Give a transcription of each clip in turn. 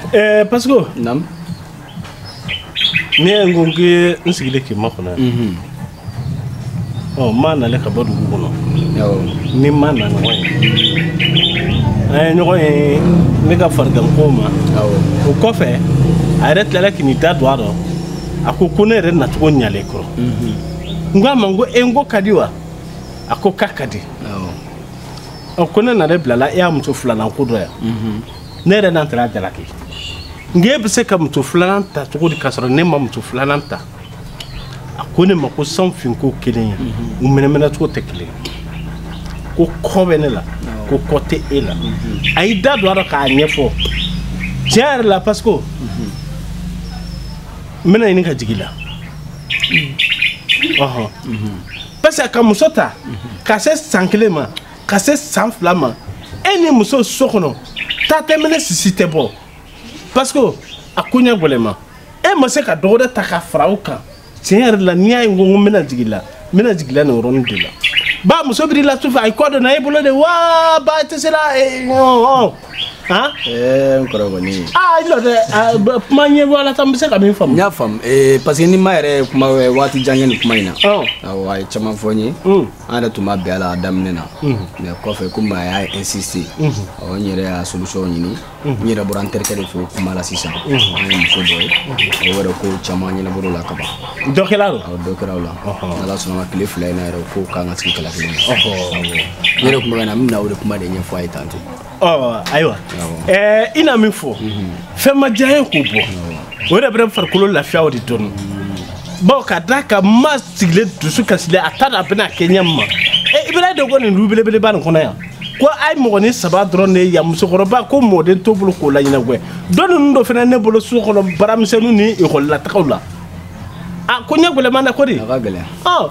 Eh, Pasco, Naam. ne ye n ko n k'i n sigilen k'i makɔnɔ yan. Mhm. Ɔ, n ma nalen ka bɔ dugu kɔnɔ. Awɔ. Ni n ma na ɲɔgɔn ye. An ye ɲɔgɔn ye ne ka fariganko ma. Awɔ. O kɔfɛ, a yɛrɛ tilala k'i n'i da don a rɔ. A ko ko ne yɛrɛ nacogo ɲalen i kɔrɔ. Mhm. N ko a ma n ko e n ko ka di wa? A ko k'a ka di. Awɔ. Ɔ, ko ne na de bilala e ya muso filanan ko dɔ yan. Mhm. ne yɛrɛ na n tɛna a jalaki nka e bɛ se ka muso filanan ta cogo di k'a sɔrɔ ne ma muso filanan ta a ko ne ma ko san finko kelen ye mhm. o mɛnɛmɛnɛcogo tɛ kelen ko kɔ bɛ ne la ko kɔ tɛ e la mhm. a y'i da don a la k'a ɲɛfɔ tiɲɛ yɛrɛ la parce que mhm. n bɛna ɲini ka jigi i la parce que ka muso ta ka se san kelen ma ka se san fila ma e ni muso so kɔnɔ ta tɛ mɛnɛ sisi tɛ bɔ parce que a koɲɛ gɛlɛman e ma se ka dɔ wɛrɛ ta ka fara o kan tiɲɛ yɛrɛ la n'i y'a ye n ko n bɛna jigi i la n bɛna jigi i la nin yɔrɔnin de la ba muso biri la su fɛ a ye kɔ donna e bolo de wa ba tɛ se la ɔn han. ɛɛ n kɔrɔ kɔni. aa i jɔ dɛ kuma ɲɛ bɔ walasa n bɛ se ka min faamu. n y'a faamu ee parce que ni n ma yɛrɛ kuma waati jan kɛ nin kuma in na. awɔ a ye caman fɔ n ye. an da tun ma bɛn a la daminɛ na mais kɔfɛ komi a y'a insister ɔ n yɛrɛ y'a solution ɲini n yɛrɛ bɔra n terikɛ de fɛ o kuma la sisan an ye muso dɔ ye o yɛrɛ ko caman ɲɛnabɔ o la ka ban dɔ kɛra o awɔ dɔ kɛra o la n'ala sɔnna tile fila in na yɛrɛ o ko k'an ka sigi kala kelen na n yɛrɛ tun bɛ ka na n bɛna o de kuma de ɲɛfɔ a ye tan ten ayiwa i na min fɔ fɛn ma diya n ye k'o bɔ o yɛrɛ bɛ farikolo lafiya o de dɔɔni bawo ka da a kan n ma sigilen dusu kasilen a t'a dɔn a bɛna kɛ ɲɛ min ma ibura denko nin du belebeleba nin kɔnɔ yan ko a ye mɔgɔnin saba dɔrɔn de ye yan musokɔrɔba ko mɔden t'o bolo k'o laɲɛnagwɛ dɔgɔ ninnu dɔ fana ne bolo so kɔnɔ baaramisɛnninw ni ekɔlilatagaw la a koɲɛ gɛlɛman na ko de a ka gɛlɛn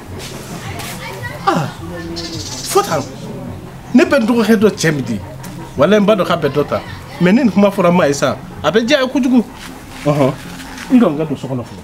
ah fota ne bɛ n dɔgɔkɛ dɔ cɛ min di wala n ba dɔ k'a bɛ dɔ ta mais ni nin kuma fɔra n ma ye sa a bɛ diya a ye kojugu ɔhɔn i lɔ n ka don so kɔnɔ fɔlɔ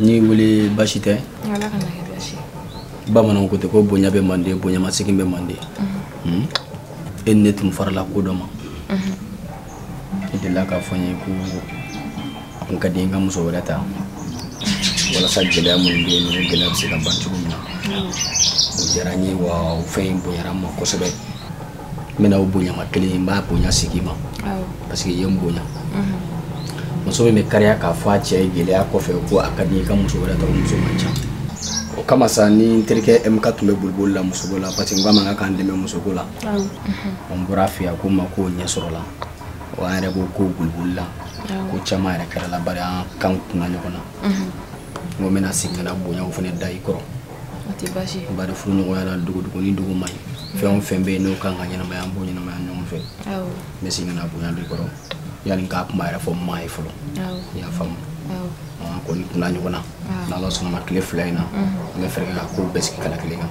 n y'i wele basi tɛ bamananw ko ten ko bonya bɛ manden bonyamasegin bɛ manden mhm. hmm? e ni ne tun farala ko dɔ ma mhm. i delila k'a fɔ n ye ko n ka diɲɛ ka muso wɛrɛ ta walasa gɛlɛya minnu bɛ yen o gɛlɛya bɛ se ka ban cogo min na o diyara n ye wa o fɛn in bonyara n ma kosɛbɛ n bɛna o bonyama kelen n b'a bonya segin i ma parce que i ye n bonya mhm. muso min bɛ kariya k'a fɔ a cɛ ye gɛlɛya kɔfɛ ko a ka di i ka muso wɛrɛ ta muso man ca o kama sa ni n terikɛ mk tun bɛ boliboli la musoko la parce que n k'a ma k'a ka n dɛmɛ musoko la mhm. n bɔra a fɛ a ko n ma k'o ɲɛ sɔrɔla wa an yɛrɛ b'o ko boliboli la ko caman yɛrɛ kɛr'a la bari an kanw kunna ɲɔgɔn na mhm. n ko n bɛna segin ka na bonyaw fana da i kɔrɔ o tɛ baasi ye bari furu ɲɔgɔnya la dugu dugu ni dugu man ɲi fɛn o fɛn bɛ yen n'o kan ka ɲɛnamaya an b'o ɲɛnamaya ɲɔgɔn fɛ awɔ n bɛ segin ka na bonya da i kɔrɔ yanni n k'a kuma yɛrɛ fɔ maa ye fɔlɔ awɔ i y'a faamu awɔ an kɔni kunna ɲɔgɔn na n'ala sɔnna ma tile fila in na an bɛ fɛɛrɛ kɛ ka kow bɛɛ sigi kala kelen kan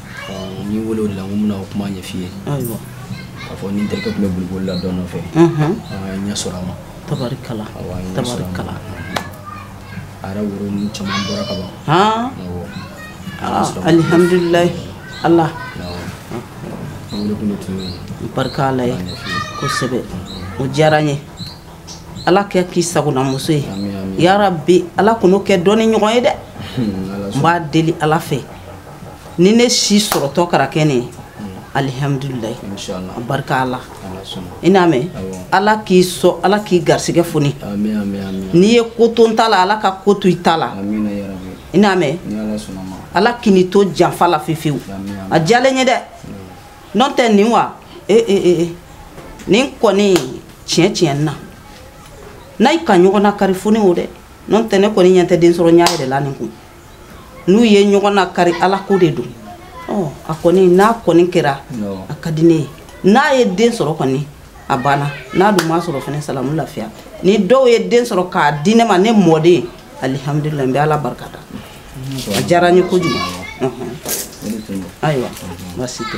n y'i wele o de la n ko n bɛna o kuma ɲɛf'i ye ayiwa k'a fɔ ni n terikɛ tun bɛ boliboli la dɔ nɔfɛ an ye ɲɛ sɔrɔ a ma tabarikala tabarikala a yɛrɛ woro ninnu caman bɔra ka ban alihamdulilayi ala wele kun de tun ye barika ala ye kosɛbɛ o diyara n ye ala k'a k'i sagonamuso ye yarabi ala kan'o kɛ dɔn ni ɲɔgɔn ye dɛ n b'a deli ala fɛ ni ne si sɔrɔtɔ kɛra kɛ ne ye alihamdulilayi barika ala i n'a mɛn ala k'i sɔn ala k'i garisɛgɛ foni n'i ye ko to n ta la ala ka ko to i ta la i n'a mɛn ala k'i ni to janfa la fefewu a diyalen ye dɛ n'o tɛ nin wa ee eh, ee eh, ee eh, nin kɔni tiɲɛ tiɲɛ na n'a y'i ka ɲɔgɔn nakari foni o dɛ n'o tɛ ne kɔni ɲɛ tɛ densɔrɔya yɛrɛ la nin kun n'u ye ɲɔgɔn nakari ala ko de don a kɔni n'a kɔni kɛra a ka di ne ye n'a ye den sɔrɔ kɔni a banna n'a dun m'a sɔrɔ fana salamu lafiya ni dɔw ye den sɔrɔ k'a di ne ma ne mɔden alihamdulilayi n bɛ ala barika da a diyara n ye kojugu ayiwa baasi tɛ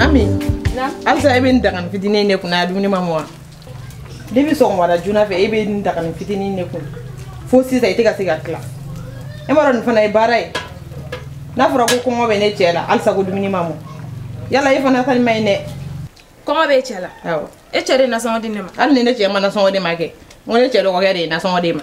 Ami halisa e bɛ nin dagani fitinin in de kun na a dumuni ma mɔ wa depi sɔgɔmada joona fɛ e bɛ nin dagani fitinin in de kun fo sisan i tɛ ka se ka tila e m'a dɔn nin fana ye baara ye n'a fɔra ko kɔngɔ bɛ ne cɛ la halisa ko dumuni ma mɔ yala e fana ta in man ɲi dɛ kɔngɔ bɛ e cɛ la awɔ e cɛ de ye nasɔngɔ di ne ma hali ni ne cɛ ma nasɔngɔ di i ma kɛ n ko ne cɛ dɔgɔkɛ de ye nasɔngɔ di i ma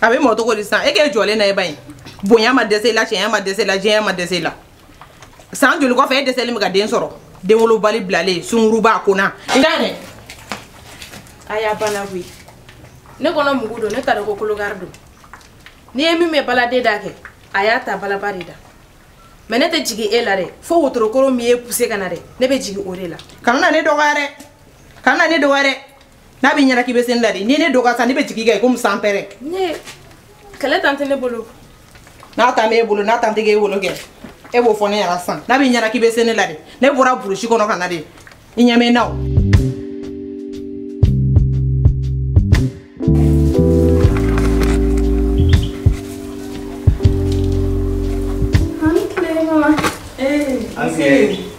a bɛ mɔ cogo di sisan e k'e jɔlen na e ba in bonya ma dɛsɛ i la cɛɲɛ ma dɛsɛ i la janya ma dɛsɛ i la san joli kɔfɛ e dɛsɛlen bɛ ka den sɔrɔ denwolobali bilalen sungurunba kona. i n'a dɛ a y'a bana koyi ne kɔnɔ mugu don ne t'a dɔn ko kolokari don n'i ye min mɛn baladen da kɛ a y'a ta balaba de da mɛ ne tɛ jigin e la dɛ fo wotoro kɔrɔ min y'e puse ka na dɛ ne bɛ jigin o de la kana na ne dɔgɔya dɛ kana na ne dɔgɔya dɛ n'a b'i ɲɛna k'i bɛ se ne la de ni ne dɔgɔ sa ne bɛ jigi i kan komi sanpɛrɛn ne kɛlɛ tan tɛ ne bolo n'a tan b'e bolo n'a tan tɛ k'e bolo kɛ e b'o fɔ ne ɲɛna sisan n'a b'i ɲɛna k'i bɛ se ne la de ne bɔra burusi kɔnɔ ka na de i ɲɛ bɛ n na o An tile mama. Ee, An tile.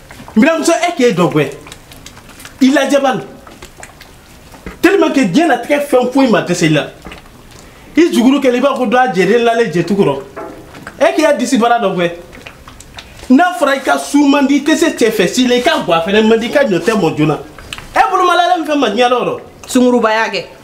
n biramuso e k'e dɔn koyi i lajɛba don tellement que diɲɛnatigɛ fɛn foyi ma dɛsɛ i la i juguru kɛlen i b'a ko dɔ a jɛden lalen jɛtu kɔrɔ e k'i ya disi baara dɔn koyi n'a fɔra i ka su man di i tɛ se cɛ fɛ si la i ka gwa fɛnɛ man di i ka ɲɔ tɛ mɔ joona e bolomalalen mun fɛn ma diɲɛ dɔ rɔ sungurubaya kɛ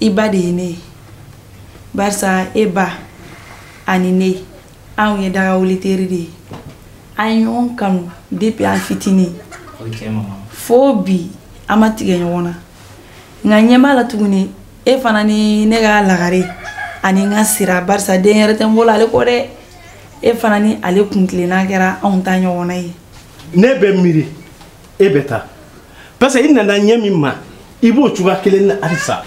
i ba de ye ne ye barisa e ba ani ne anw ye daga wuli teri de ye an ye ɲɔgɔn kanu depuis an fitinin fo bi an ma tigɛ ɲɔgɔn na nka ɲɛ b'a la tuguni e fana ni ne ka lagare ani n ka sira barisa den yɛrɛ tɛ n bolo ale kɔ dɛ e fana ni ale kuntilenna kɛra anw ta ɲɔgɔnna ye ne bɛ miiri e bɛ taa parce que i nana ɲɛ min ma i b'o cogoya kelen na halisa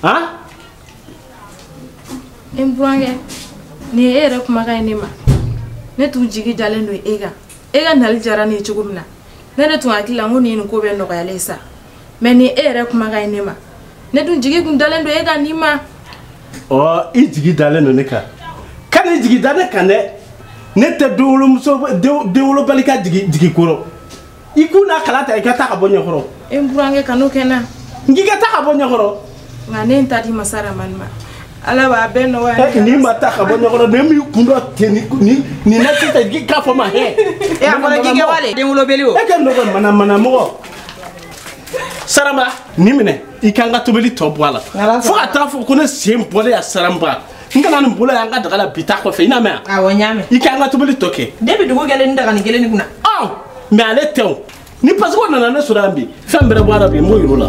han n burankɛ nin ye e yɛrɛ kumakan ye ne ma ne tun jigi dalen don e kan e ka nali diyara ne ye cogo min na ne de tun hakili la n ko nin ye nin ko bɛɛ nɔgɔyalen sa mɛ nin e yɛrɛ kumakan ye ne ma ne tun jigi tun dalen don e kan nin ma ɔ i jigi dalen don ne kan kan'i jigi da ne kan dɛ ne tɛ denwolomuso denwolobali ka jigi kɔrɔ i kun n'a kala ta i ka taa ka bɔ n ɲɛkɔrɔ e n burankɛ kan'o kɛ n na n k'i ka taa ka bɔ n ɲɛkɔrɔ nka ne n ta di masa ramani ma ala b'a bɛɛ nɔgɔya n'i ma taa ka bɔ n ɲɛkɔrɔ ne min kun dɔ ten ni nin na sisan k'a fɔ ma hɛ e a fɔra k'i kɛ wale denwolobali o e ka nɔgɔ mana mana mɔgɔ saramba nin minɛ i ka n ka tobili tɔ bɔ a la fo ka taa fɔ ko ne sen bɔlen yan saramba n kana nin bolo y'an ka daga la bi ta kɔfɛ i n'a mɛn awɔ n y'a mɛn i ka n ka tobili tɔ kɛ depi dugu jɛlen ni daga nin kelen nin kunna ɔ mɛ ale tɛ o ni pasikɛ o nana ne sɔrɔ yan bi fɛn bɛrɛ bɔ a la bi n b'o yir'o la